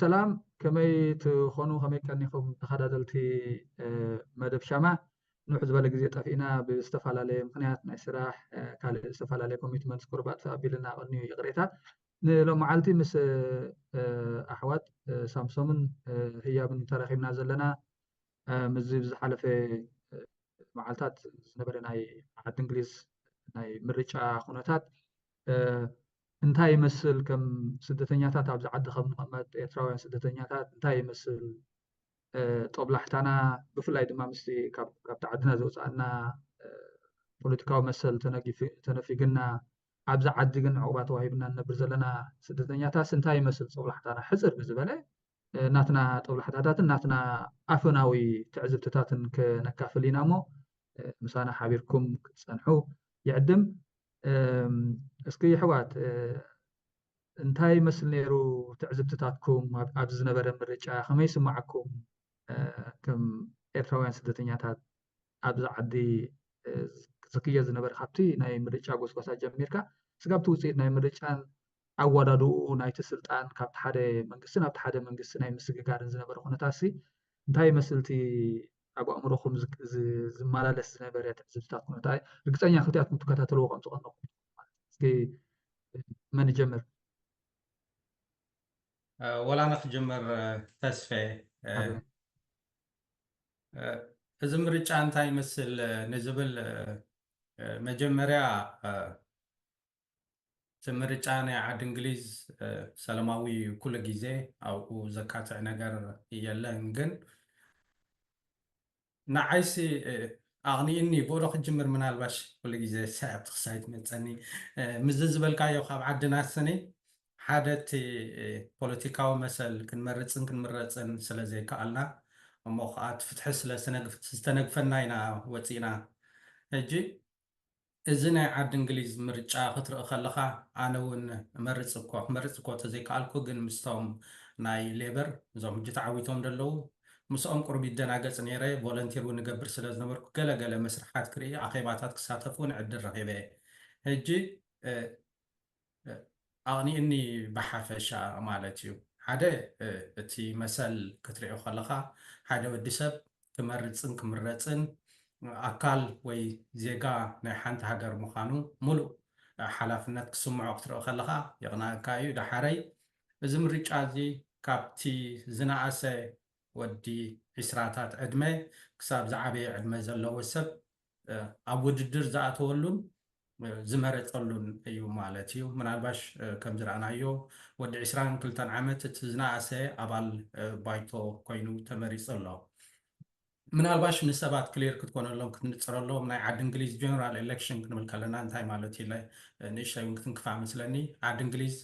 ሰላም ከመይ ትኾኑ ከመይ ቀኒኹም ተኸታተልቲ መደብ ሻማዕ ንውሕ ዝበለ ግዜ ጠፊእና ብዝተፈላለየ ምክንያት ናይ ስራሕ ካልእ ዝተፈላለየ ኮሚትመንት ቁርባት ኣቢልና ቀንዩ ይቕሬታ ንሎመዓልቲ ምስ ኣሕዋት ሳምሶምን ህያብን ተረኺብና ዘለና ምስዚ ብዝሓለፈ መዓልታት ዝነበረ ናይ ዓዲ እንግሊዝ ናይ ምርጫ ኩነታት እንታይ ይመስል ከም ስደተኛታት ኣብዚ ዓዲ ከም ንቐመጥ ኤርትራውያን ስደተኛታት እንታይ ይመስል ጦብላሕታና ብፍላይ ድማ ምስቲ ካብቲ ዓድና ዘውፅኣና ፖለቲካዊ መሰል ተነፊግና ኣብዚ ዓዲ ግን ዕቑባ ተዋሂብና ንነብር ዘለና ስደተኛታትስ እንታይ ይመስል ጦብላሕታና ሕፅር ብዝበለ ናትና ጦብላሕታታትን ናትና ኣፈናዊ ትዕዝብትታትን ከነካፍል ኢና እሞ ምሳና ሓቢርኩም ክትፀንሑ ይዕድም እስኪ የሕዋት እንታይ መስል ነይሩ ትዕዝብትታትኩም ኣብዚ ዝነበረ ምርጫ ከመይ ስማዓኩም ከም ኤርትራውያን ስደተኛታት ኣብዛ ዓዲ ዝክየድ ዝነበረ ካብቲ ናይ ምርጫ ጎስጓሳ ጀሚርካ ስጋብቲ ውፅኢት ናይ ምርጫን ኣወዳድኡ ናይቲ ስልጣን ካብቲ ሓደ መንግስቲ ናብቲ ሓደ መንግስቲ ናይ ምስግጋርን ዝነበረ ኩነታት ሲ እንታይ ይመስል እቲ ኣብ ኣእምሮኹም ዝመላለስ ዝነበረ ትዕዝብትታት ኩነታት ርግፀኛ ክልቲኣትኩም ትከታተልዎ ከም ዝቐነኹም እስኪ መን ይጀምር ወላ ንክጅምር ተስፈ እዚ ምርጫ እንታይ ይመስል ንዝብል መጀመርያ እቲ ምርጫ ናይ ዓዲ እንግሊዝ ሰላማዊ እዩ ኩሉ ግዜ ኣብኡ ዘካትዕ ነገር የለን ግን ንዓይሲ ኣቕኒእኒ ብኡዶ ክጅምር ምናልባሽ ኩሉ ግዜ ሰዕብቲ ክሳይ ትመፀኒ ምዝ ዝበልካዮ ካብ ዓድና ስኒ ሓደ እቲ ፖለቲካዊ መሰል ክንመርጽን ክንምረጽን ስለ ዘይከኣልና እሞ ከኣ እቲ ፍትሒ ስለ ዝተነግፈና ኢና ወጺእና ሕጂ እዚ ናይ ዓዲ እንግሊዝ ምርጫ ክትርኢ ከለኻ ኣነ ውን እመርጽ እኮ ክመርጽ እኮ ተዘይከኣልኩ ግን ምስቶም ናይ ሌበር እዞም ሕጂ ተዓዊቶም ዘለዉ ምስኦም ቁሩብ ይደናገጽ ነይረ ቮለንቲር ውን እገብር ስለ ዝነበርኩ ገለ ገለ መስርሓት ክርኢ ኣኼባታት ክሳተፍ ውን ዕድል ረኺበ ሕጂ ኣቕኒኡኒ ብሓፈሻ ማለት እዩ። ሓደ እቲ መሰል ክትሪኦ ከለኻ ሓደ ወዲ ሰብ ክመርጽን ክምረጽን ኣካል ወይ ዜጋ ናይ ሓንቲ ሃገር ምዃኑ ሙሉእ ሓላፍነት ክስምዖ ክትሪኦ ከለኻ የቕናኣካ እዩ። ደሓረይ እዚ ምርጫ እዚ ካብቲ ዝነኣሰ ወዲ ዒስራታት ዕድመ ክሳብ ዝዓበየ ዕድመ ዘለዎ ሰብ ኣብ ውድድር ዝኣተወሉን ዝመረፀሉን እዩ ማለት እዩ። ምናልባሽ ከም ዝረኣናዮ ወዲ ዕስራን ክልተን ዓመት እቲ ዝነኣሰ ኣባል ባይቶ ኮይኑ ተመሪፁ ኣሎ። ምናልባሽ ንሰባት ክሊር ክትኮነሎም ክትንፅረሎም ናይ ዓዲ እንግሊዝ ጀነራል ኤሌክሽን ክንብል ከለና እንታይ ማለት እዩ ኢለ ንእሽተይ እውን ክትንክፋ መስለኒ ዓዲ እንግሊዝ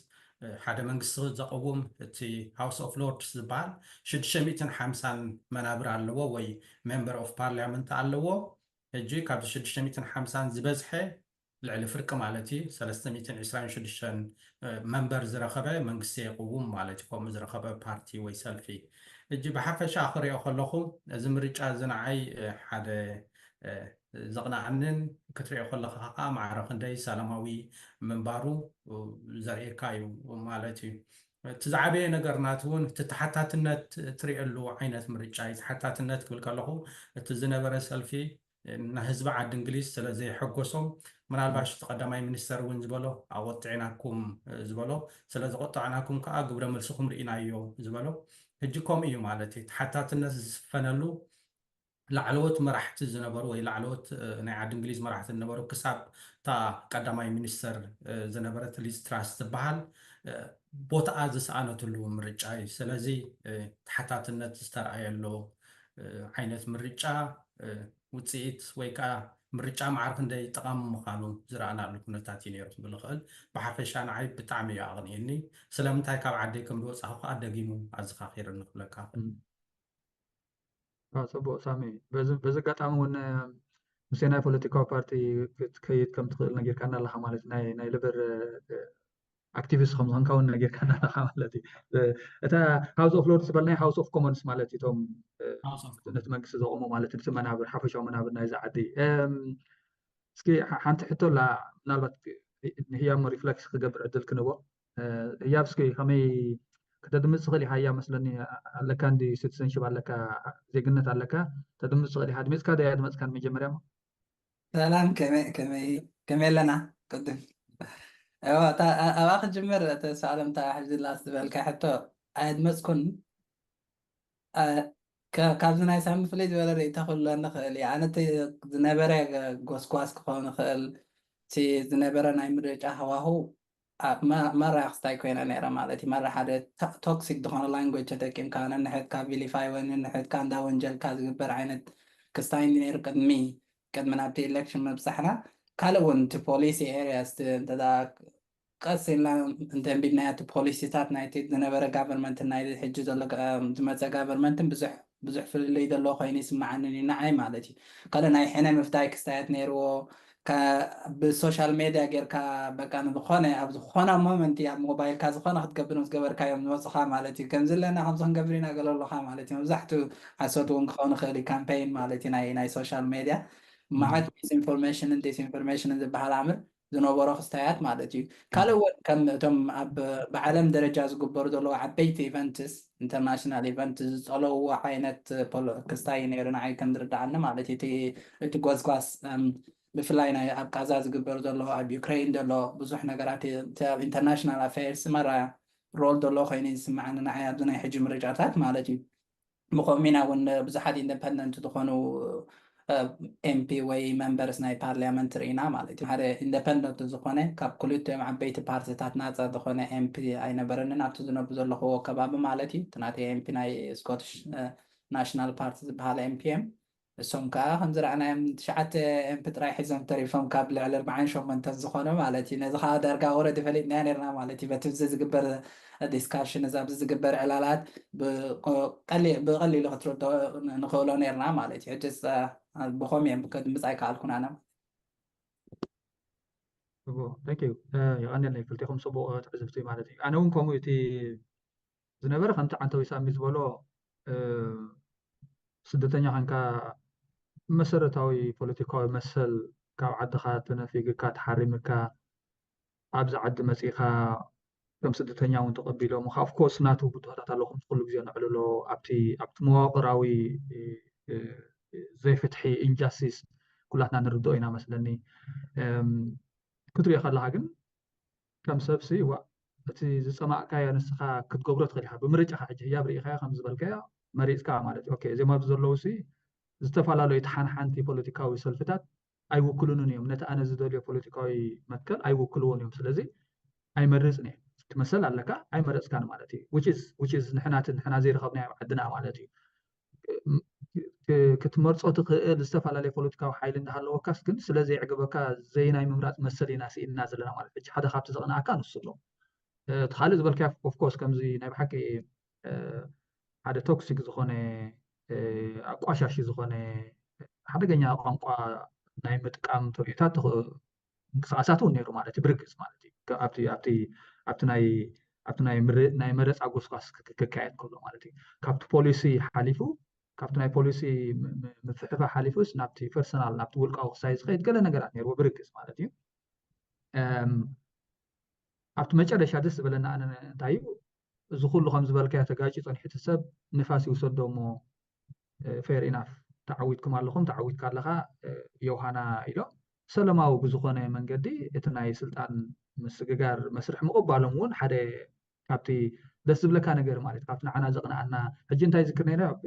ሓደ መንግስቲ ዘቐውም እቲ ሃውስ ኦፍ ሎርድስ ዝበሃል ሽዱሽተ ሚእትን ሓምሳን መናብር ኣለዎ ወይ ሜምበር ኦፍ ፓርልያመንት ኣለዎ ሕጂ ካብዚ ሽዱሽተ ሚእትን ሓምሳን ዝበዝሐ ልዕሊ ፍርቂ ማለት እዩ ሰለስተ ሚእትን ዕስራን ሽዱሽተን መንበር ዝረኸበ መንግስቲ የቕውም ማለት እዩ ከምኡ ዝረኸበ ፓርቲ ወይ ሰልፊ ሕጂ ብሓፈሻ ክሪኦ ከለኹ እዚ ምርጫ እዚ ንዓይ ሓደ ዘቕናኣንን ክትሪኦ ከለኻ ከዓ ማዕረ ክንደይ ሰላማዊ ምንባሩ ዘርእየካ እዩ ማለት እዩ እቲ ዝዓበየ ነገር ናቱ እውን እቲ ተሓታትነት እትርእየሉ ዓይነት ምርጫ እዩ። ተሓታትነት ክብል ከለኹ እቲ ዝነበረ ሰልፊ ንህዝቢ ዓዲ እንግሊዝ ስለ ዘየሐጎሶም ምናልባሽ እቲ ቀዳማይ ሚኒስተር እውን ዝበሎ ኣቖጢዕናኩም ዝበሎ ስለ ዘቖጣዕናኩም ከዓ ግብረ መልስኹም ርኢናዮ ዝበሎ ሕጂ ከምኡ እዩ ማለት እዩ። ተሓታትነት ዝስፈነሉ ላዕለዎት መራሕቲ ዝነበሩ ወይ ላዕለዎት ናይ ዓዲ እንግሊዝ መራሕቲ ዝነበሩ ክሳብ እታ ቀዳማይ ሚኒስተር ዝነበረት ሊዝ ትራስ ትበሃል ቦትኣ ዝሰኣነትሉ ምርጫ እዩ። ስለዚ ተሓታትነት ዝተርኣየሉ ዓይነት ምርጫ ውፅኢት ወይ ከዓ ምርጫ መዓር ክንደይ ጠቓሚ ምዃኑ ዝረኣናሉ ኩነታት እዩ ነይሩ ክብል እኽእል። ብሓፈሻ ንዓይ ብጣዕሚ እዩ ኣቕኒእኒ። ስለምንታይ ካብ ዓደይ ከም ዝወፃኹ ከዓ ደጊሙ ኣዘኻኺርኒ ክብለካ እኽእል። ፅቡቅ ሳሚ በዚ ኣጋጣሚ እውን ምስ ናይ ፖለቲካዊ ፓርቲ ክትከይድ ከም ትኽእል ነጊርካና ኣለካ ማለት ናይ ናይ ልበር ኣክቲቪስት ከም ዝኾንካ እውን ነጊርካና ኣለካ ማለት እዩ እታ ሃውስ ኦፍ ሎርድስ ዝበልናይ ሃውስ ኦፍ ኮሞንስ ማለት እዩ እቶም ነቲ መንግስቲ ዘቆሞ ማለት እቲ መናብር ሓፈሻዊ መናብር ናይዚ ዓዲ እስኪ ሓንቲ ሕቶ ኣላ ምናልባት ንህያሞ ሪፍለክስ ክገብር ዕድል ክንቦ ህያብ እስኪ ከመይ ክተድምፅ ትኽእል ኢኻ እያ መስለኒ ኣለካ እንዲ ሲቲዘንሽፕ ኣለካ ዜግነት ኣለካ ተድምፅ ትኽእል ኢኻ ኣድሚፅካ ዶ ኣድመፅካን መጀመርያ እሞ ሰላም ከመይ ኣለና ቅድም እዋ ኣብኣ ክጅምር እቲ ሰላምታ ሕዝላ ዝበልካ ሕቶ ኣየድመፅኩን ካብዚ ናይ ሳሚ ፍለይ ዝበለ ርእይቶ ክህሉ ንኽእል እዩ ኣነ እቲ ዝነበረ ጎስጓስ ክኸውን ይኽእል እቲ ዝነበረ ናይ ምርጫ ሃዋህው ማራ ክስታይ ኮይና ነይራ ማለት እዩ ማራ ሓደ ቶክሲክ ዝኾነ ላንጉጅ ተጠቂምካ ነንሕድካ ቪሊፋይ ወይ ነንሕድካ እንዳ ወንጀልካ ዝግበር ዓይነት ክስታይ እንድዩ ነይሩ ቅድሚ ቅድሚ ናብቲ ኢለክሽን ምብጻሕና ካልእ እውን እቲ ፖሊሲ ኤርያስ እንተ ቀስ ኢልና እንተንቢብናዮ እቲ ፖሊሲታት ናይቲ ዝነበረ ጋቨርመንትን ናይ ሕጂ ዘሎ ዝመፀ ጋቨርመንትን ብዙሕ ብዙሕ ፍልልይ ዘሎ ኮይኑ ኣይስምዓንን እዩ ንዓይ ማለት እዩ ካልእ ናይ ሕነ ምፍታይ ክስታያት ነይርዎ ብ social media ጌርካ በቃ ንዝኾነ ኣብ ዝኾነ ሞመንቲ ኣብ ሞባይልካ ዝኾነ ክትገብር ምስ ገበርካዮም ዝመጹኻ ማለት እዩ ከምዚ ኣለና ከምዚ ክንገብር ኢና ገለ ኣሎኻ ማለት እዩ መብዛሕትኡ ሓሶት ውን ክኸውን ይኽእል እዩ campaign ማለት እዩ ናይ ናይ social media መዓት misinformation ን disinformation ን ዝበሃል ኣምር ዝነበሮ ክስታያት ማለት እዩ። ካልእ እውን ከም እቶም ኣብ ብዓለም ደረጃ ዝግበሩ ዘለዉ ዓበይቲ ኢቨንትስ ኢንተርናሽናል ኢቨንት ዝፀለውዎ ዓይነት ክስታይ እዩ ነይሩ ንዓይ ከም ዝርድኣኒ ማለት እዩ። እቲ እቲ ጎስጓስ ብፍላይ ናይ ኣብ ቃዛ ዝግበር ዘሎ ኣብ ዩክረይን ዘሎ ብዙሕ ነገራት እቲ ኣብ ኢንተርናሽናል ኣፈየርስ መራ ሮል ዘሎ ኮይኑ እዩ ዝስምዓኒ ንዓይ ኣብዚ ናይ ሕጂ ምርጫታት ማለት እዩ። ብከምኡ ሚና እውን ብዙሓት ኢንደፐንደንት ዝኾኑ ኤምፒ ወይ መንበርስ ናይ ፓርሊያመንት ርኢና ማለት እዩ። ሓደ ኢንደፐንደንት ዝኾነ ካብ ክልቲኦም ዓበይቲ ፓርቲታት ናፃ ዝኾነ ኤምፒ ኣይነበረንን ኣብቲ ዝነብ ዘለኹዎ ከባቢ ማለት እዩ። እቲ ናተይ ኤምፒ ናይ ስኮትሽ ናሽናል ፓርቲ ዝበሃል ኤምፒ እየም። ንሶም ከኣ ከም ዝረኣናዮም ትሽዓተ ኤምፒ ጥራይ ሒዞም ተሪፎም ካብ ልዕሊ ኣርብዓን ሸሞንተን ዝኾኑ ማለት እዩ ነዚ ከኣ ዳርጋ ኦረዲ ፈሊጥናዮ ኔርና ማለት እዩ በቲ ብዚ ዝግበር ዲስካሽንስ ኣብዚ ዝግበር ዕላላት ብቀሊሉ ክትርድኦ ንኽእሎ ኔርና ማለት እዩ ሕጅስ ብኸምኡ እዮም ከድምጽ ኣይከኣልኩን ኣነ ማለት ጽቡቅ ታንኪዩ የቀንየለይ ክልቴኹም ጽቡቅ ትዕዝብቲ ማለት እዩ ኣነ ውን ከምኡ እቲ ዝነበረ ከምቲ ዓንተዊ ሳሚ ዝበሎ ስደተኛ ከንካ መሰረታዊ ፖለቲካዊ መሰል ካብ ዓድኻ ተነፊግካ ተሓሪምካ ኣብዚ ዓዲ መፂእካ ከም ስደተኛ እውን ተቐቢሎም ካብ ኮርስ ናቱ ብድሆታት ኣሎ ከምቲ ኩሉ ግዜ ነዕልሎ ኣብቲ ኣብቲ መዋቕራዊ ዘይፍትሒ ኢንጃስቲስ ኩላትና ንርድኦ ኢና መስለኒ ክትሪኦ ከለካ ግን ከም ሰብሲ ዋእ እቲ ዝጸማእካዮ ንስኻ ክትገብሮ ትኽእል ኢኻ ብምርጫኻ ሕጂ ህያብ ርኢኻዮ ከም ዝበልካዮ መሪጽካ ማለት እዩ ኦኬ እዚኦም ኣብዚ ዘለውሲ ዝተፈላለዩ ተሓንሓንቲ ፖለቲካዊ ሰልፍታት ኣይውክሉንን እዮም ነቲ ኣነ ዝደልዮ ፖለቲካዊ መትከል ኣይውክልዎን እዮም ስለዚ ኣይመርጽን እየ ትመሰል ኣለካ ኣይመረጽካን ማለት እዩ ውጭዝ ውጭዝ ንሕናትን ንሕና ዘይረኸብናዮም ዓድና ማለት እዩ ክትመርፆ ትኽእል ዝተፈላለየ ፖለቲካዊ ሓይሊ እንዳሃለወካስ ግን ስለዘይዕግበካ ዘይናይ ምምራፅ መሰል ኢና ስኢንና ዘለና ማለት ሕጂ ሓደ ካብቲ ዘቕንኣካ ንሱ ኣሎ እቲ ካልእ ዝበልካዮ ኦፍኮርስ ከምዚ ናይ ብሓቂ ሓደ ቶክሲክ ዝኾነ ኣቋሻሺ ዝኾነ ሓደገኛ ቋንቋ ናይ ምጥቃም ትርኢታት ምንቅስቃሳት እውን ነይሩ ማለት እዩ ብርግፅ ማለት እዩ ኣብቲ ናይ ኣብቲ ናይ መረፃ ጎስጓስ ክካየድ ከሎ ማለት እዩ ካብቲ ፖሊሲ ሓሊፉ ካብቲ ናይ ፖሊሲ ምፍሕፋ ሓሊፉስ ናብቲ ፐርሰናል ናብቲ ውልቃዊ ክሳይ ዝኸይድ ገለ ነገራት ነይርዎ ብርግፅ ማለት እዩ ኣብቲ መጨረሻ ደስ ዝበለና እንታይ እዩ እዚ ኩሉ ከም ዝበልካዮ ተጋጭዩ ጸኒሑ እቲ ሰብ ንፋስ ይውሰዶ እሞ ፌር ኢናፍ ተዓዊትኩም ኣለኹም ተዓዊትካ ኣለኻ ዮውሃና ኢሎም ሰለማዊ ብዝኾነ መንገዲ እቲ ናይ ስልጣን ምስግጋር መስርሕ ምቕባሎም እውን ሓደ ካብቲ ደስ ዝብለካ ነገር ማለት እዩ ካብቲ ንዓና ዘቕንኣና ሕጂ እንታይ ዝክር ነይረ ኣብ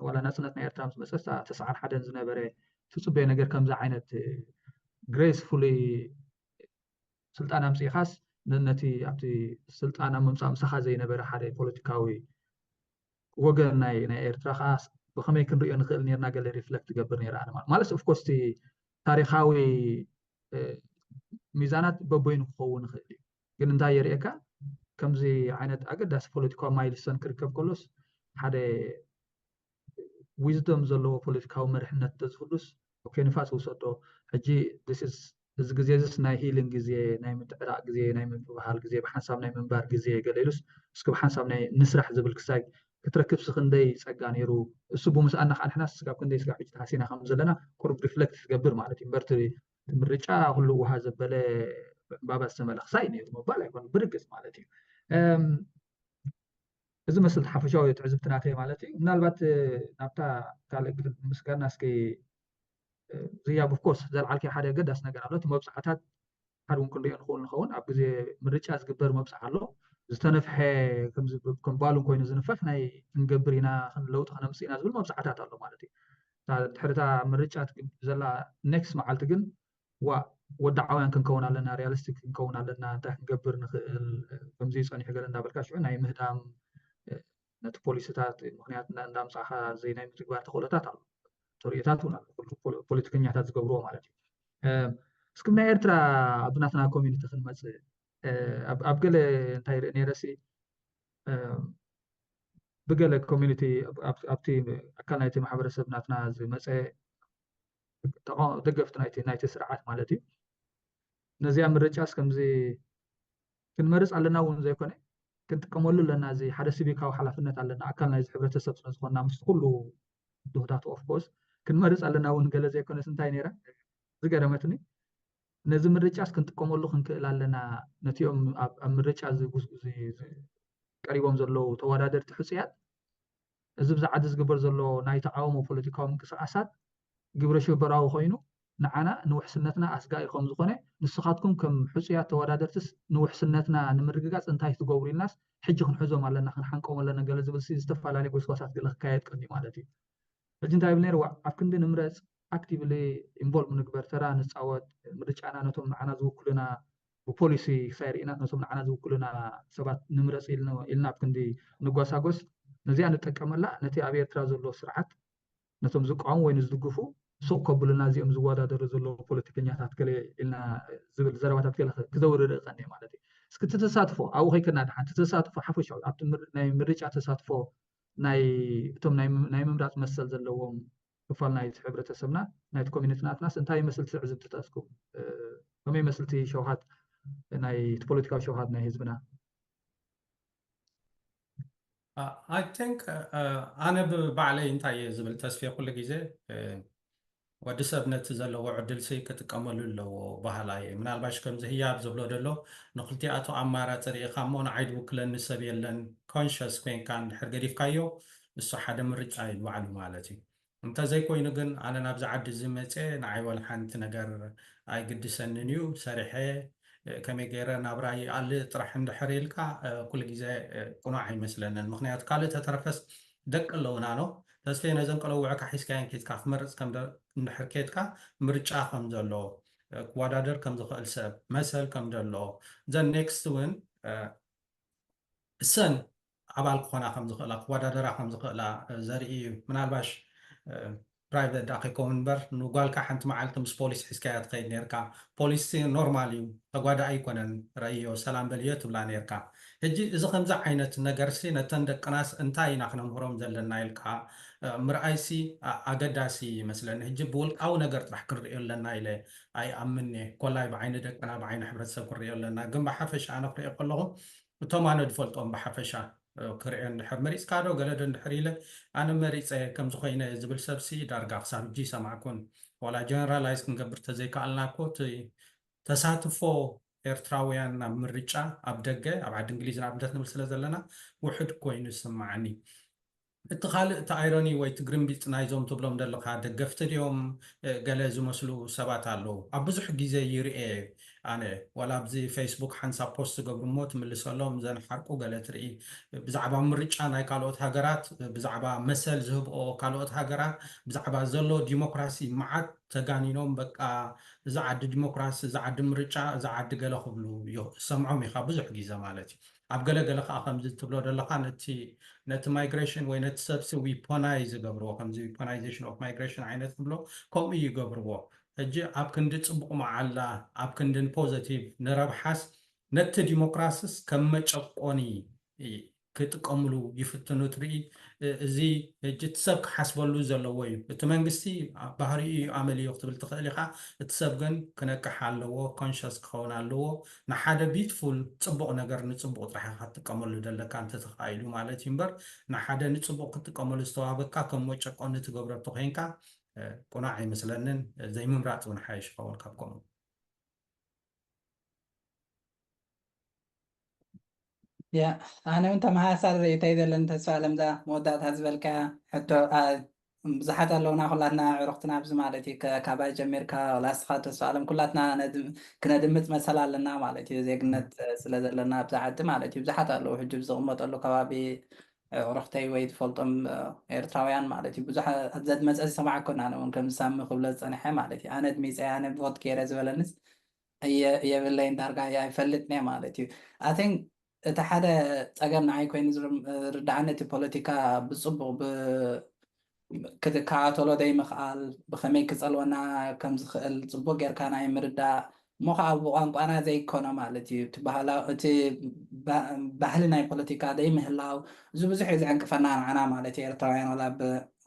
ዋላ ናፅነት ናይ ኤርትራ ምስ መፀስ ተስዓን ሓደን ዝነበረ ትፅበዮ ነገር ከምዚ ዓይነት ግሬስፉሊ ስልጣን ኣምጺእኻስ ነነቲ ኣብቲ ስልጣን ኣብ ምምጻእ ምሳኻ ዘይነበረ ሓደ ፖለቲካዊ ወገን ናይ ናይ ኤርትራ ከኣ ብኸመይ ክንሪኦ ንኽእል ነርና ገለ ሪፍለክት ትገብር ነይራ ኣነ ማለት ማለት ኦፍኮርስ እቲ ታሪኻዊ ሚዛናት በበይኑ ክኸውን ይኽእል እዩ ግን እንታይ የርእየካ ከምዚ ዓይነት ኣገዳሲ ፖለቲካዊ ማይልሰን ክርከብ ከሎስ ሓደ ዊዝደም ዘለዎ ፖለቲካዊ መሪሕነት እንተዝህሉስ ኦኬ ንፋስ ይውሰዶ ሕጂ this is እዚ ግዜ እዚስ ናይ ሂሊንግ ግዜ ናይ ምትዕራቕ ግዜ ናይ ምብብሃል ግዜ ብሓንሳብ ናይ ምንባር ግዜ ገለ ኢሉስ እስኪ ብሓንሳብ ናይ ንስራሕ ዝብል ክሳይ ክትረክብ ስክንደይ ጸጋ ነይሩ እሱ ብምስኣና ከዓ ንሕናስ ስጋብ ክንደይ ስጋብ ሕጂ ተሃሲና ከም ዘለና ቁርብ ሪፍለክት ትገብር ማለት እዩ እምበርቲ ምርጫ ኩሉ ውሃ ዘበለ ዕምባባ ዝተመልኣ ክሳይ ነይሩ ምባል ኣይኮነ ብርግጽ ማለት እዩ እዚ መስል ሓፈሻዊ ትዕዝብቲ ናተይ ማለት እዩ ምናልባት ናብታ ካልእ ምስጋና እስኪ ዝያብ ኮርስ ዘልዓልከ ሓደ ገዳስ ነገር ኣሎ እቲ መብፅዓታት ሓደ እውን ክንሪኦ ንኽእል ንኸውን ኣብ ግዜ ምርጫ ዝግበር መብፅዓ ኣሎ ዝተነፍሐ ከም ባሉን ኮይኑ ዝንፈሕ ናይ ክንገብር ኢና ክንለውጢ ክነምፅእ ኢና ዝብል መብፅዓታት ኣሎ ማለት እዩ ድሕሪታ ምርጫ ዘላ ኔክስት መዓልቲ ግን ዋእ ወድዓውያን ክንከውን ኣለና ሪያሊስቲክ ክንከውን ኣለና እንታይ ክንገብር ንኽእል ከምዚ ፀኒሑ ገለ እንዳበልካ ሽዑ ናይ ምህዳም ነቲ ፖሊሲታት ምክንያት እንዳምፃእካ ዘይ ናይ ምትግባር ተኽእሎታት ኣሎ ተርእዮታት እውን ኣሎ ኩሉ ፖለቲከኛታት ዝገብርዎ ማለት እዩ እስኪ ናይ ኤርትራ ኣብ ናትና ኮሚኒቲ ክንመፅእ ኣብ ገለ እንታይ ይርኢ ነይረሲ ብገለ ኮሚኒቲ ኣብቲ ኣካል ናይቲ ማሕበረሰብ ናትና ዝመፀ ደገፍቲ ናይቲ ስርዓት ማለት እዩ ነዚያ ምርጫስ ከምዚ ክንመርፅ ኣለና እውን ዘይኮነ ክንጥቀመሉ ኣለና እዚ ሓደ ሲቪካዊ ሓላፍነት ኣለና ኣካል ናይዚ ሕብረተሰብ ስለዝኮና ምስ ኩሉ ድሆታት ኦፍኮርስ ክንመርፅ ኣለና እውን ገለ ዘይኮነስ እንታይ ነይራ ዝገረመትኒ ነዚ ምርጫስ ክንጥቀመሉ ክንክእል ኣለና ነቲኦም ኣብ ምርጫ ቀሪቦም ዘለዉ ተወዳደርቲ ሕፁያት እዚ ኣብዚ ዓዲ ዝግበር ዘሎ ናይ ተቓውሞ ፖለቲካዊ ምንቅስቓሳት ግብረ ሽበራዊ ኮይኑ ንዓና ንውሕስነትና ኣስጋኢ ከም ዝኾነ ንስኻትኩም ከም ሕጹያት ተወዳደርትስ ንውሕስነትና ንምርግጋጽ እንታይ ትገብሩ ኢልናስ ሕጂ ክንሕዞም ኣለና ክንሓንቆም ኣለና ገለ ዝብልሲ ዝተፈላለየ ጎስጓሳት ገለ ክካየድ ቀንዩ ማለት እዩ ሕጂ እንታይ ብል ነይሩ ዋዕ ኣብ ክንዲ ንምረጽ ኣክቲቭሊ ኢንቮልቭ ንግበር ተራ ንጻወት ምርጫና ነቶም ንዓና ዝውክሉና ብፖሊሲ ክሳይ ርኢና ነቶም ንዓና ዝውክሉና ሰባት ንምረጽ ኢልና ኣብ ክንዲ ንጓሳጎስ ነዚኣ ንጠቀመላ ነቲ ኣብ ኤርትራ ዘሎ ስርዓት ነቶም ዝቃወሙ ወይ ንዝድግፉ ሱቕ ከብሉና እዚኦም ዝወዳደሩ ዘለዉ ፖለቲከኛታት ገለ ኢልና ዝብል ዘረባታት ገለ ክዘውር ይርኢ ቀኒ ማለት እዩ እስኪ እቲ ተሳትፎ ኣብኡ ከይከና ድሓን እቲ ተሳትፎ ሓፈሻዊ ኣብቲ ናይ ምርጫ ተሳትፎ ናይ እቶም ናይ ምምራፅ መሰል ዘለዎም ክፋል ናይ'ቲ ሕብረተሰብና ናይ'ቲ ኮሚኒቲ ናትናስ እንታይ ይመስል ትዕዝብትታት እስኩ ከመይ ይመስል እቲ ሸውሃት ናይ እቲ ፖለቲካዊ ሸውሃት ናይ ህዝብና ኣይ ቲንክ ኣነ ብባዕለይ እንታይ እየ ዝብል ተስፌ ኩሉ ግዜ ወዲ ሰብ ነቲ ዘለዎ ዕድልሲ ክጥቀመሉ ኣለዎ ባህላ እየ ምናልባሽ ከምዚ ህያብ ዝብሎ ደሎ ንክልቲኣቱ ኣማራፂ ርኢኻ እሞ ንዓይ ድውክለኒ ሰብ የለን ኮንሽስ ኮንካ እንድሕር ገዲፍካዮ እሱ ሓደ ምርጫ እዩ ባዕሉ ማለት እዩ እንተዘይኮይኑ ግን ኣነ ናብዚ ዓዲ እዚ መፅየ ንዓይ ዋላሓንቲ ነገር ኣይግድሰንን እዩ ሰሪሐ ከመይ ገይረ ናብራ ይኣልእ ጥራሕ እንድሕር ኢልካ ኩሉ ግዜ ቅኑዕ ኣይመስለንን ምክንያቱ ካልእ ተተረፈስ ደቂ ኣለውና ኖ ተስፌ ነዘን ቀለውዕካ ሒዝካየን ኬድካ ክመርፅ ከምደ እንድሕር ኬድካ ምርጫ ከምዘሎ ክወዳደር ከምዝኽእል ሰብ መሰል ከምደሎ ዘን ኔክስት እውን እሰን ኣባል ክኾና ከም ዝኽእላ ክወዳደራ ከም ዝኽእላ ዘርኢ እዩ ምናልባሽ ፕራይቨት ዳ ከይከውን እምበር ንጓልካ ሓንቲ መዓልቲ ምስ ፖሊስ ሒዝካያ ትኸይድ ነርካ ፖሊስ ኖርማል እዩ ተጓዳኢ ኣይኮነን ረእዮ ሰላም በልዮ ትብላ ነርካ ሕጂ እዚ ከምዚ ዓይነት ነገርሲ ነተን ደቅናስ እንታይ ኢና ክነምህሮም ዘለና ኢልካ ምርኣይሲ ኣገዳሲ ይመስለኒ ሕጂ ብውልቃዊ ነገር ጥራሕ ክንሪኦ ኣለና ኢለ ኣይኣምን እየ ኮላይ ብዓይኒ ደቅና ብዓይኒ ሕብረተሰብ ክንሪኦ ኣለና ግን ብሓፈሻ ኣነ ክሪኦ ከለኹ እቶም ኣነ ዝፈልጦም ብሓፈሻ ክርእዮን ድሕር መሪጽካ ዶ ገለ ዶ እንድሕር ኢለ ኣነ መሪጸ ከምዚ ኮይነ ዝብል ሰብሲ ዳርጋ ክሳብ ሕጂ ኣይሰማዕኩን ዋላ ጀነራላይዝ ክንገብር ተዘይከኣልና እኮ እቲ ተሳትፎ ኤርትራውያን ናብ ምርጫ ኣብ ደገ ኣብ ዓዲ እንግሊዝ ንኣብነት ንብል ስለ ዘለና ውሕድ ኮይኑ ይስመዓኒ እቲ ካልእ እቲ ኣይሮኒ ወይ እቲ ግርምቢጥ ናይዞም ትብሎም ደለኻ ደገፍቲ ድዮም ገለ ዝመስሉ ሰባት ኣለዉ ኣብ ብዙሕ ግዜ ይርኤ ኣነ ዋላ ኣብዚ ፈይስቡክ ሓንሳብ ፖስት ዝገብሩ እሞ ትምልሰሎም ዘንሓርቁ ገለ ትርኢ ብዛዕባ ምርጫ ናይ ካልኦት ሃገራት ብዛዕባ መሰል ዝህብኦ ካልኦት ሃገራት ብዛዕባ ዘሎ ዲሞክራሲ መዓት ተጋኒኖም በቃ እዚ ዓዲ ዲሞክራሲ እዚ ዓዲ ምርጫ እዚ ዓዲ ገለ ክብሉ ሰምዖም ኢኻ ብዙሕ ግዜ ማለት እዩ ኣብ ገለ ገለ ከኣ ከምዚ ትብሎ ደለኻ ነቲ ነቲ ማይግረሽን ወይ ነቲ ሰብሲ ዊፖናይዝ ይገብርዎ ከምዚ ዊፖናይዘሽን ኦፍ ማይግረሽን ዓይነት ትብሎ ከምኡ እዩ ይገብርዎ ሕጂ ኣብ ክንዲ ጽቡቕ መዓላ ኣብ ክንዲ ንፖዘቲቭ ንረብሓስ ነቲ ዲሞክራሲስ ከም መጨቆኒ ክጥቀምሉ ይፍትኑ ትርኢ እዚ ሕጂ እቲ ሰብ ክሓስበሉ ዘለዎ እዩ እቲ መንግስቲ ባህሪኡ እዩ ኣመልዮ ክትብል ትኽእል ኢኻ እቲ ሰብ ግን ክነቅሕ ኣለዎ ኮንሽስ ክኸውን ኣለዎ ንሓደ ቢትፉል ጽቡቕ ነገር ንጽቡቕ ጥራሕ ኢኻ ክትጥቀመሉ ደለካ እንተ ተኻኢሉ ማለት እዩ እምበር ንሓደ ንጽቡቕ ክትጥቀመሉ ዝተዋህበካ ከም መጨቆኒ ትገብሮ እተ ኮንካ ቁናዕ ኣይመስለንን ዘይምምራጽ ውን ሓይሽ ይኸውን ካብ ከምኡ ኣነ ውን ተመሳሳሊ ርእይቶ ዩ ዘለኒ ተስፋኣለም እዛ መወዳእታ ዝበልካያ ሕቶ ብዙሓት ኣለውና ኩላትና ኣዕሩኽትና ኣብዚ ማለት ዩ ካባይ ጀሚርካ ወላ እስኻ ተስፋኣለም ኩላትና ክነድምፅ መሰል ኣለና ማለት ዩ ዜግነት ስለ ዘለና ኣብዚ ዓዲ ማለት ዩ ብዙሓት ኣለው ሕጂ ብ ዝቕመጠሉ ከባቢ ኣዕሩኽተይ ወይ ዝፈልጦም ኤርትራውያን ማለት ዩ ብዙሕ ኣብ ዘድመፀ ዝሰማዕኩን ኣነ ውን ከምዚ ሳሚ ክብሎ ዝፀንሐ ማለት ዩ ኣነ ኣድሚፀ ኣነ ቮት ጌረ ዝበለንስ የብለይን ዳርጋ ኣይፈልጥን'የ ማለት እዩ i think እቲ ሓደ ጸገም ንዓይ ኮይኑ ዝርድኣኒ እቲ ፖለቲካ ብጽቡቕ ክትከታተሎ ዘይምኽኣል ብኸመይ ክጸልወና ከም ዝኽእል ጽቡቕ ጌርካ ናይ ምርዳእ እሞ ከኣ ብቋንቋና ዘይኮነ ማለት እዩ እቲ ባህሊ ናይ ፖለቲካ ዘይምህላው እዚ ብዙሕ እዩ ዘዕንቅፈና ንዓና ማለት እዩ ኤርትራውያን ዋላ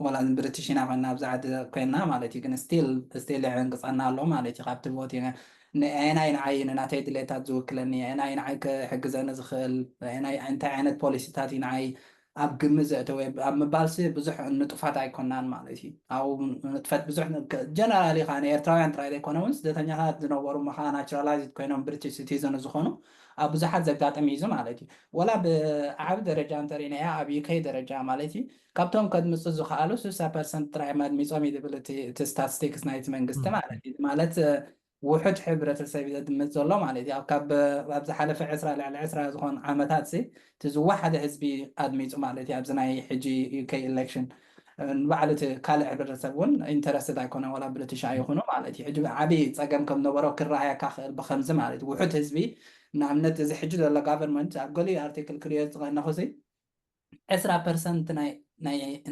ዋላ ን ብርትሽ ኢና ኮና ኣብዛ ዓዲ ኮይና ማለት እዩ ግን ስቲል ስቲል የዕንቅጸና ኣሎ ማለት እዩ ካብቲ ቮት ን ኣየናይ ንዓይ ንናተይ ድሌታት ዝውክለኒ ኣየናይ ንዓይ ክሕግዘኒ ዝኽእል ኣየናይ እንታይ ዓይነት ፖሊሲታት እዩ ንዓይ ኣብ ግምት ዘእተወ ኣብ ምባልሲ ብዙሕ ንጡፋት ኣይኮናን ማለት እዩ ኣብኡ ንጥፈት ብዙሕ ጀነራሊ ከኣ ንኤርትራውያን ጥራይ ዘይኮነ እውን ስደተኛታት ዝነበሩ እሞ ከኣ ናቹራላይዝድ ኮይኖም ብርትሽ ሲቲዝን ዝኾኑ ኣብ ብዙሓት ዘጋጥም እዩ እዚ ማለት እዩ ዋላ ብዓቢ ደረጃ እንተሪእናያ ኣብ ዩኬ ደረጃ ማለት እዩ ካብቶም ከድምጹ ዝኸኣሉ ስሳ ፐርሰንት ጥራይ'ዮም ኣድሚጾም እዩ ዝብል እቲ እቲ ስታትስቲክስ ናይቲ መንግስቲ ማለት እዩ። እዚ ማለት ውሑድ ሕብረተሰብ እዩ ዘድምጽ ዘሎ ማለት እዩ። ካብ ኣብ ዝሓለፈ ዕስራ ልዕሊ ዕስራ ዝኾኑ ዓመታትሲ እቲ ዝወሓደ ህዝቢ እዩ ኣድሚጹ ማለት እዩ። ኣብዚ ናይ ሕጂ UK election ንባዕሉ እቲ ካልእ ሕብረተሰብ እውን ኢንተረስትድ ኣይኮነን ዋላ ብሪቲሽ ኣይኹኑ ማለት እዩ። ሕጂ ዓቢ ጸገም ከም ነበሮ ክረኣየካ ይኽእል ብኸምዚ ማለት እዩ። ውሑድ ህዝቢ ንኣብነት እዚ ሕጂ ዘሎ ጋቨርመንት ኣብ ገሊኡ ኣርቲክል ክርእዮ ዝቐነኹሲ፣ ዕስራ ፐርሰንት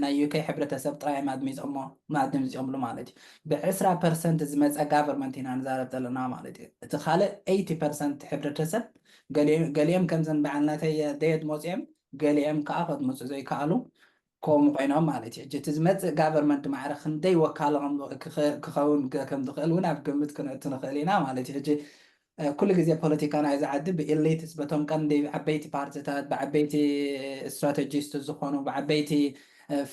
ናይ ዩከይ ሕብረተሰብ ጥራይ እዮም ኣድሚጾሞ ኣደምዚኦምሉ ማለት እዩ ብዕስራ ፐርሰንት ዝመጸ ጋቨርመንት ኢና ንዛረብ ዘለና ማለት እዩ እቲ ካልእ ኤይቲ ፐርሰንት ሕብረተሰብ ገሊኦም ከምዘም በዓል ናተይ ደየድመጹ እዮም ገሊኦም ከኣ ከድምጹ ዘይከኣሉ ከምኡ ኮይኖም ማለት እዩ ሕጂ እቲ ዝመጽእ ጋቨርመንት ማዕረ ክንደይ ወካልኦም ክኸውን ከም ዝኽእል እውን ኣብ ግምት ክንእቱ ንኽእል ኢና ማለት እዩ ሕጂ ኩሉ ግዜ ፖለቲካ ናይዛ ዓዲ ብ Elites በቶም ቀንዲ ዓበይቲ ፓርትታት ብዓበይቲ Strategists ዝኾኑ ብዓበይቲ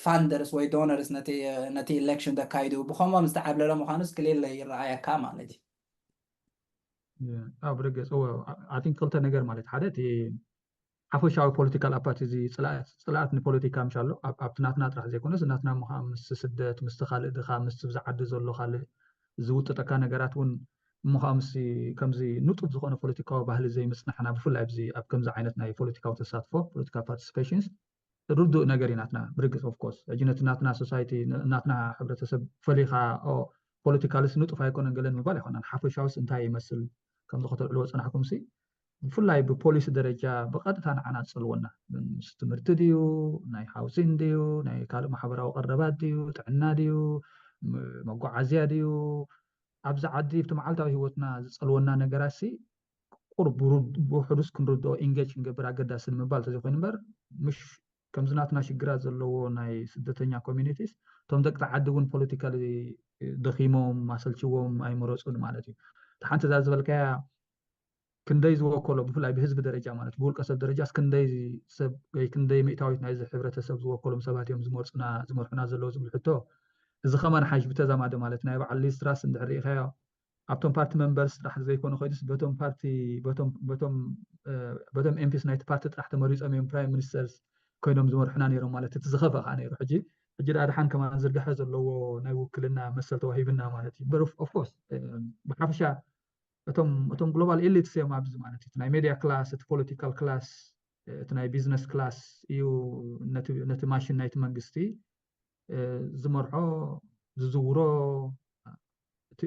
Funders ወይ Donors ነቲ ነቲ Election ዘካይዱ ብኸምኦም ዝተዓብለለ ምዃኑስ ክሊርሊ ይረኣየካ ማለት እዩ። Yeah ኣብ ርግጽ እወ I think ክልተ ነገር ማለት ሓደ እቲ ሓፈሻዊ ፖለቲካል ኣፓቲ እዚ ፅላእት ፅላእት ንፖለቲካ ምሻሎ ኣብ ኣብቲ ናትና ጥራሕ ዘይኮነስ ናትና እሞ ከዓ ምስ ስደት ምስቲ ካልእ ድኻ ምስቲ ብዛ ዓዲ ዘሎ ካልእ ዝውጥጠካ ነገራት እውን እሞ ከዓ ምስ ከምዚ ንጡፍ ዝኾነ ፖለቲካዊ ባህሊ ዘይምፅናሕና ብፍላይ ኣብዚ ኣብ ከምዚ ዓይነት ናይ ፖለቲካዊ ተሳትፎ ፖለቲካ ፓርቲስፔሽንስ ርዱእ ነገር እዩ ናትና ብርግፅ ኦፍኮርስ ሕጂ ነቲ ናትና ሶሳይቲ ናትና ሕብረተሰብ ፈሊኻ ኦ ፖለቲካልስ ንጡፍ ኣይኮነን ገለን ምባል ኣይኮነን ሓፈሻውስ እንታይ ይመስል ከምዚ ከተልዕልዎ ፀናሕኩምሲ ብፍላይ ብፖሊሲ ደረጃ ብቐጥታ ንዓና ዝጸልወና ምስ ትምህርቲ ድዩ ናይ ሃውሲን ድዩ ናይ ካልእ ማሕበራዊ ቀረባት ድዩ ጥዕና ድዩ መጓዓዝያ ድዩ ኣብዚ ዓዲ እቲ መዓልታዊ ህይወትና ዝፀልወና ነገራት ሲ ቁር ብውሕዱስ ክንርድኦ ኢንጌጅ ክንገብር ኣገዳሲ ንምባል ተዘይኮይኑ እምበር ምሽ ከምዚ ናትና ሽግራት ዘለዎ ናይ ስደተኛ ኮሚኒቲስ እቶም ደቂ ዓዲ እውን ፖለቲካሊ ደኺሞም ኣሰልችዎም ኣይመረፁን ማለት እዩ እቲ ሓንቲ እዛ ዝበልካያ ክንደይ ዝወከሎ ብፍላይ ብህዝቢ ደረጃ ማለት ብውልቀ ሰብ ደረጃስ ክንደይ ሰብ ወይ ክንደይ ሚእታዊት ናይዚ ሕብረተሰብ ዝወከሎም ሰባት እዮም ዝመርፁና ዝመርሑና ዘለዎ ዝብል ሕቶ እዚ ከማን ሓይሽ ብተዛማደ ማለት ናይ በዓል ሊስትራስ እንድሕር ርኢኻዮ ኣብቶም ፓርቲ መንበርስ ጥራሕ ዘይኮነ ኮይኑስ በቶም ፓርቲ በቶም ኤምፒስ ናይቲ ፓርቲ ጥራሕ ተመሪፆም እዮም ፕራይም ሚኒስተርስ ኮይኖም ዝመርሑና ነይሮም ማለት እቲ ዝኸፈ ከዓ ነይሩ ሕጂ ሕጂ ዳ ድሓን ከማን ዝርግሐ ዘለዎ ናይ ውክልና መሰል ተዋሂብና ማለት እዩ ኦፍኮርስ ብሓፈሻ እቶም እቶም ግሎባል ኤሊትስ እዮም ኣብዚ ማለት እዩ ናይ ሜድያ ክላስ እቲ ፖለቲካል ክላስ እቲ ናይ ቢዝነስ ክላስ እዩ ነቲ ማሽን ናይቲ መንግስቲ ዝመርሖ ዝዝውሮ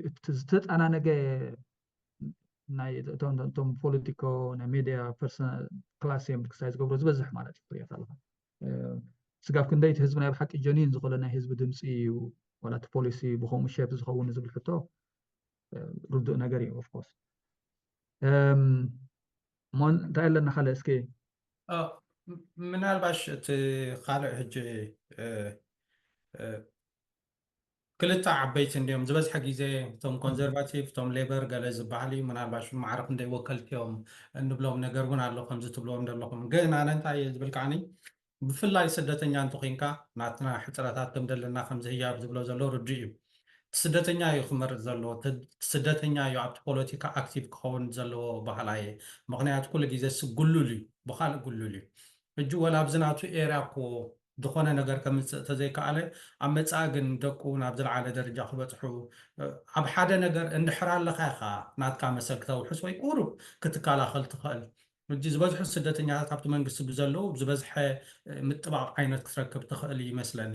እቲ ዝተጠናነገ ናይ እቶም ፖለቲኮ ናይ ሜድያ ክላስ እዮም ክሳይ ዝገብሮ ዝበዝሕ ማለት እዩ ክሪኦት ኣለካ ስጋብ ክንደይ እቲ ህዝቢ ናይ ብሓቂ ጀኒን ዝኮነ ናይ ህዝቢ ድምፂ እዩ ዋላ እቲ ፖሊሲ ብከምኡ ሸፕ ዝኸውን ዝብል ሕቶ ርዱእ ነገር እዩ ኦፍኮርስ እሞ እንታይ ኣለና ካልእ እስኪ ምናልባሽ እቲ ካልእ ሕጂ ክልተ ዓበይቲ እንዲዮም ዝበዝሐ ግዜ እቶም ኮንዘርቫቲቭ እቶም ሌበር ገለ ዝበሃል እዩ ምናልባሽ ማዕረ ክንደይ ወከልቲ እዮም እንብሎም ነገር እውን ኣሎ ከምዚ ትብልዎም ዘለኹም ግን ኣነ እንታይ እየ ዝብል ከዓኒ ብፍላይ ስደተኛ እንተኾይንካ ናትና ሕጽረታት ከም ደለና ከምዚ ህያብ ዝብሎ ዘሎ ርዱእ እዩ። እቲ ስደተኛ እዩ ክመርጽ ዘለዎ እቲ ስደተኛ እዩ ኣብቲ ፖለቲካ ኣክቲቭ ክኸውን ዘለዎ በሃል ኣየ ምኽንያቱ ኩሉ ግዜ እሱ ግሉል እዩ ብኻልእ ግሉል እዩ ሕጂ ወላ ኣብዚ ናቱ ኤርያ እኮ ዝኾነ ነገር ከምጽእ ተዘይከኣለ ኣብ መጻኢ ግን ደቁ ናብ ዝለዓለ ደረጃ ክበጽሑ ኣብ ሓደ ነገር እንድሕር ኣለኻ ኢኻ ናትካ መሰል ክተውሕስ ወይ ቁሩብ ክትከላኸል ትኽእል ሕጂ ዝበዝሑ ስደተኛታት ኣብቲ መንግስቲ ብዘለዉ ዝበዝሐ ምጥባቕ ዓይነት ክትረክብ ትኽእል ይመስለኒ።